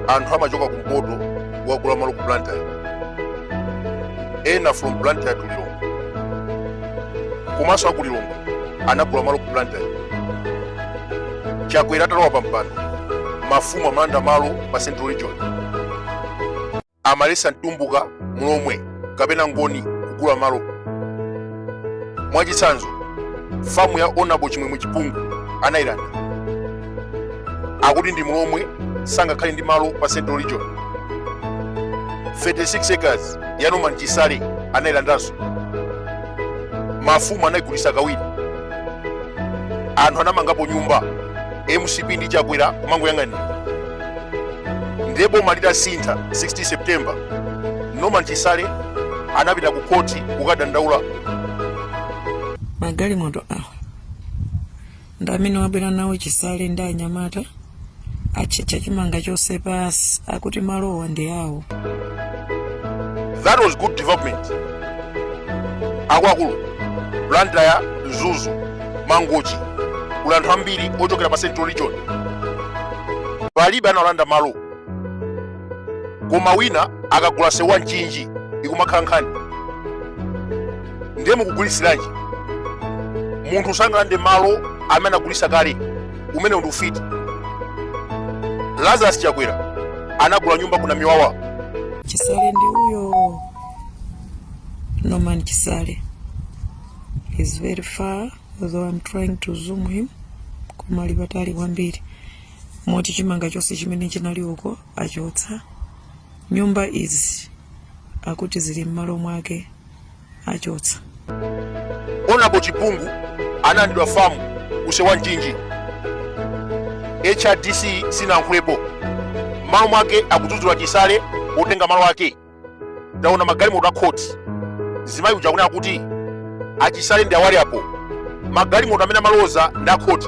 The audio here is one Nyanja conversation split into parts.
anthu amachoka kumpoto kukagula malo ku blantyre ena from blantyre to lilongwe komanso aku lilongwe anagula malo ku blantyre chakwera atalowa pa mpando mafumu amalanda malo pa central region amaletsa mtumbuka, mlomwe kapena mngoni kugula malo. Mwachitsanzo, famu ya Honorable Chimwemwe Chipungu anayilanda. Akuti ndi mlomwe sangakhale ndi malo pa Central Region. 36 acres ya Norman Chisale anayilandanso. Mafumu anayigulitsa kawiri. Anthu anamangapo nyumba. MCP ndi Chakwera kumangoyang'anira. ndiye boma litasintha 16 september norman chisale anapita ku khoti kukadandaula magalimoto awa ndi amene wabwera nawo chisale ndi anyamata atchetcha chimanga chonse pansi akuti malowa ndi awo that was good development akuluakulu blantyre mzuzu mangochi kuli anthu ambiri ochokera pa central region palibe analanda malo koma wina akagula kuseriwa mchinji ikumakhala nkhani ndiye mukugulisiranji munthu sangalande malo amene anagulisa kale umenewu ndi ufiti lazarus chakwera anagula nyumba ku namiwawa chisale ndi uyo norman chisale he's very far though I'm trying to zoom him koma ali patali kwambiri moti chimanga chonse chimene chinali uko achotsa nyumba izi akuti zili m'malo mwake achotsa honorable chipungu analandidwa famu kuseriwa mchinji hrdc sinalankhulepo m'malo mwake akudzudzula chisale potenga malo ake ndaona magalimoto a khoti mzimayi uja akunena kuti achisale ndi awa ali apo magalimoto amene amaloza ndi akhoti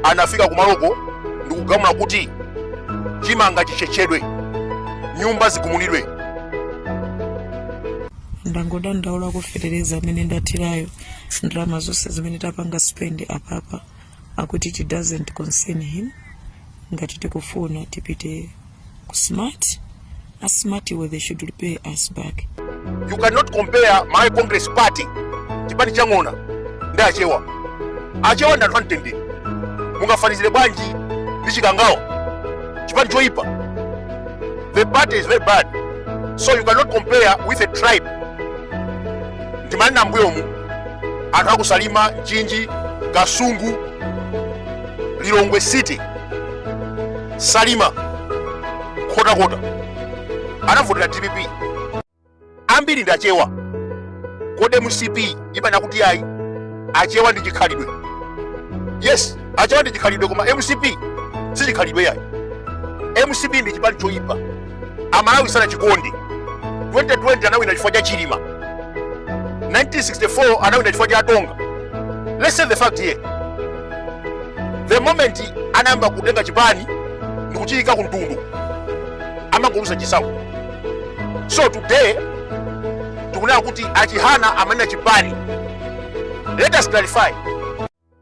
anafika kumaloko ndikugamula kuti chimanga chichetchedwe nyumba zigumulidwe ndangodandaula za fetereza amene ndathirayo ndalama zonse zimene tapanga spend apapa akuti it doesn't concern him ngati tikufuna tipite ku smart a smart iwo they should repay us back you cannot compare malawi congress party chipani cha ng'ona ndi achewa achewa ndi anthu amtendere mungafanizire bwanji ndi chikangawa chipani choyipa the party is very bad so you cannot compare with a tribe ndimanena mbuyomu anthu akusalima mchinji kasungu lilongwe city salima nkhotakota anavotera dpp ambiri ndi achewa kodi mcp imanena kuti ayi achewa ndi chikhalidwe yes achewa ndi chikhalidwe koma mcp si chikhalidwe yayi mcp ndi chipani choyipa amalawi sanachikonde 2020 anawina chifukwa cha chilima 1964 anawina chifukwa cha atonga let's say the fact here the moment anayamba kutenga chipani ndikuchiyika ku mtundu amangoluza chisankho so today tikunena kuti achihana amanena chipani let us clarify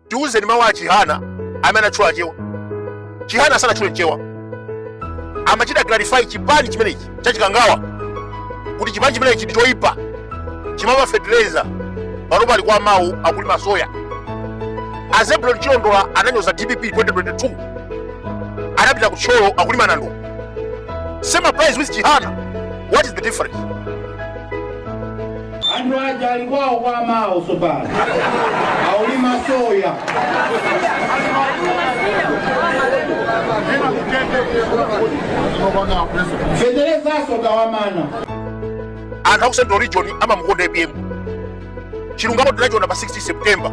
tiuzeni mawu a chihana amene anatchula achewa chihana sanatchule mchewa amachita clarify chipani chimenechi chachikangawa kuti chipani chimenechi ndi choyipa chimaba fertilizer panopa ali kwa amawo akulima soya azebulon chilondola ananyoza dpp 2022 anapita ku thyolo akulima nandolo same applies with chihana what is the difference anthu aja ali kwawo kwa amawo tsopano aulima soya feterezaso akawamana anthu aku central region amamukonda apm chilungamo tinachiona pa 16 september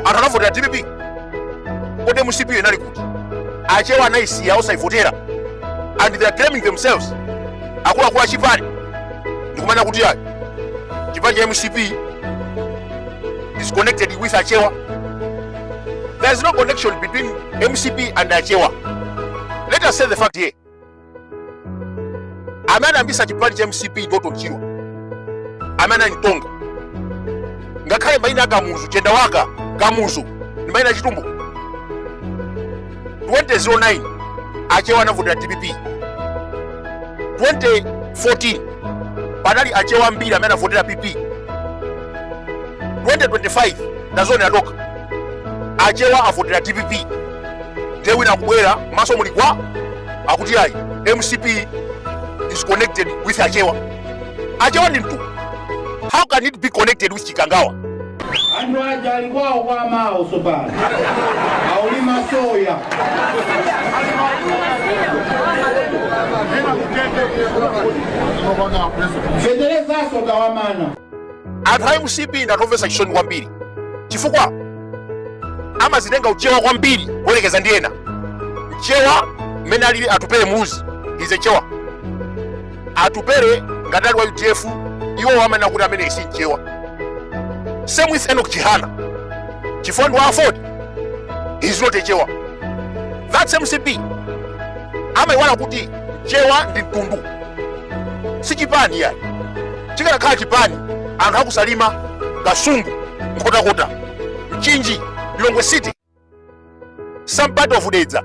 anthu anavotera dpp kodi mcp yo inali kuti achewa anayisiya osayivotera and they are claiming themselves akuluakulu achipani ndikumanena kuti ayi chipani cha mcp is connected with achewa there is no connection between mcp and achewa let us say the fact here amene anayambitsa chipani cha mcp ndi orton chirwa amene anali mtonga ngakhale maina a kamuzu chendawaka kamuzu ndi maina achitumbuka 2009 achewa anavotera dpp 2014 panali achewa ambiri amene anavotera pp 2025 mwazionera nokha achewa avotera dpp ndiye wina akubwera maso muli gwa akuti ayi mcp is connected with achewa Achewa ndi mtundu. How can it be connected with Chikangawa? Anthu aja ali kwawo kwa amawo tsopano. Aulima soya. Feterezaso akawamana. Anthu a MCP ndi anthu omvetsa chisoni kwambiri. Chifukwa amazitenga uchewa kwambiri kuyerekeza ndi ena. Mchewa mmene alili Atupele Muluzi is a Chewa. atupere ngati ali wa udf iwo amanena kuti ameneyu si mchewa same with enok chihana chifukwa ndi wa aford is not a chewa that's mcp amayiwala kuti mchewa ndi mtundu si chipani ayi chikanakhala chipani anthu akusalima kasungu nkhotakota mchinji lilongwe city some part of dedza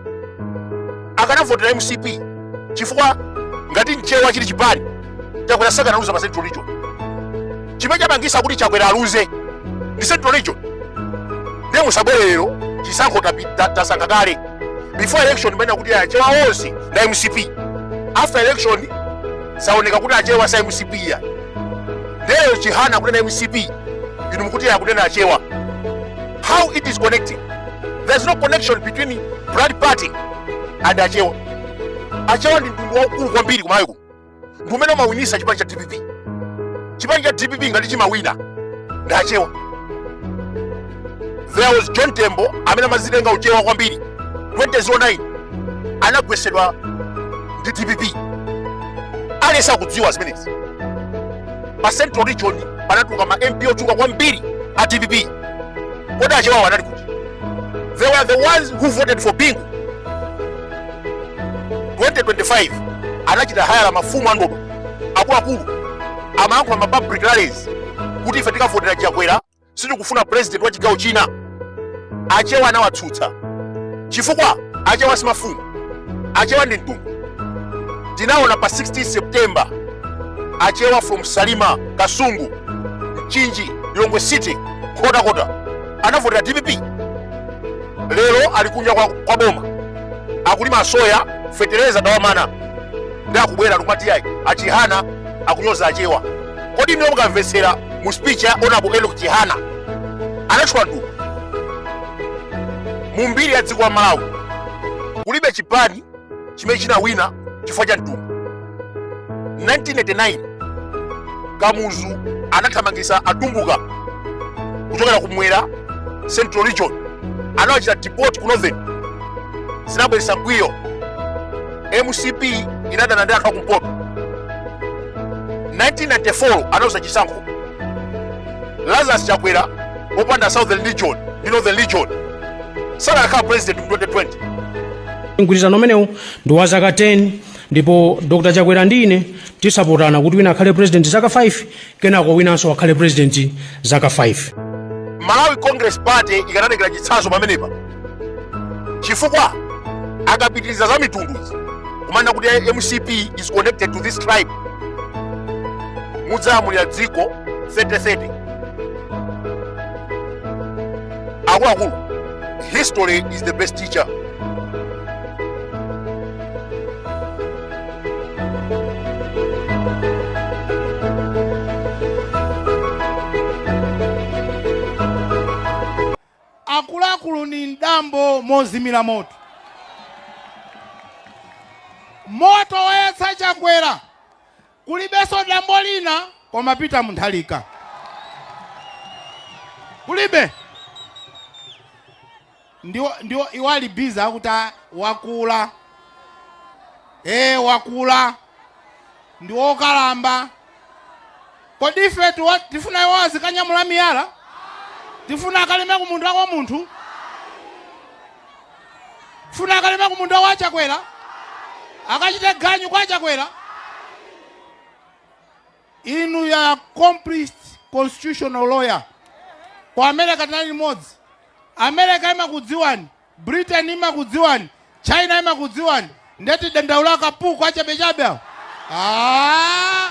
akanavotera mcp chifukwa ngati mchewa chili chipani chakwera sakanaluza pa central region chimene chapangisa kuti chakwera aluze ndi central region ndiye musabwere lero chisankho tapi- ta- tasankha kale before election mumanena kuti achewa onse nda mcp after election zaoneka kuti achewa sa mcp ya lero chihana akunena mcp inu mukuti akunena achewa how it is connecting there is no connection between blood party and achewa achewa ndi mtundu waukulu kwambiri kumalawi kuno ndi umene umawinisa chipani cha dpp chipani cha dpp ngati chimawina ndi achewa there was john tembo amene amazitenga uchewa kwambiri 2009 anagwetsedwa ndi dpp aliyense akudziwa zimenezi pa central region panatuluka ma mp ochuluka kwambiri a dpp kodi achewawo anali kuti they were the ones who voted for bingu 2025 anachita hayala mafumu andodo akuluakulu amayankhula ma public rallies kuti ife tikavotera chakwera sitikufuna president wa chigawo china achewa anawatsutsa chifukwa achewa simafumu achewa ndi mtundu tinaona pa 16 september achewa from salima kasungu mchinji lilongwe city nkhotakota anavotera dpp lero ali kunja kwa, kwa boma akulima soya fetereza tawamana ndi akubwera akumati ayi achihana akunyoza achewa kodi inu mukamvetsera mu speech ya honorable enok chihana anatchula mtundu mu mbiri ya dziko la malawi kulibe chipani chimene chinawina chifukwa cha mtundu 1989 kamuzu anathamangitsa atumbuka kuchokera kumwera central region anawachita deport ku northern zinabweretsa mkwiyo mcp inadana ndi anthu akumpoto 1994 analuza chisankho lazarus chakwera popanda southern region ndi northern region sakanakhala president mu 2020 mgwirizano umenewu ndi wa zaka 10 ndipo dr chakwera ndi ine tizaponderana kuti wina akhale president zaka 5 Kenako winanso akhale president zaka 5. Malawi Congress Party ikanatengera chitsanzo pamenepa chifukwa akapitiriza za mitunduzi kumanena kuti mcp is connected to this tribe mudzalamulira dziko 3030 akuluakulu history is the best teacher akuluakulu ndi m'dambo mozimira moto moto wayatsa chakwera kulibenso dambo lina komapita munthalika kulibe Ndiwo, ndiwo, iwo ali busy akuti, a, wakula. Eee, wakula. Ndi wokalamba. Kodi ifetu wa, tifuna iwo azikanyamula miyala? Tifuna akalime ku munda wa munthu? Tifuna akalime ku munda wa Chakwera? Akachite ganyu kwa Chakwera? Inuyo accomplished constitutional lawyer ku America tinali limodzi. America imakudziwani, Britain imakudziwani, China imakudziwani. Nde tidandaula akapuku achabechabe awo. Ah!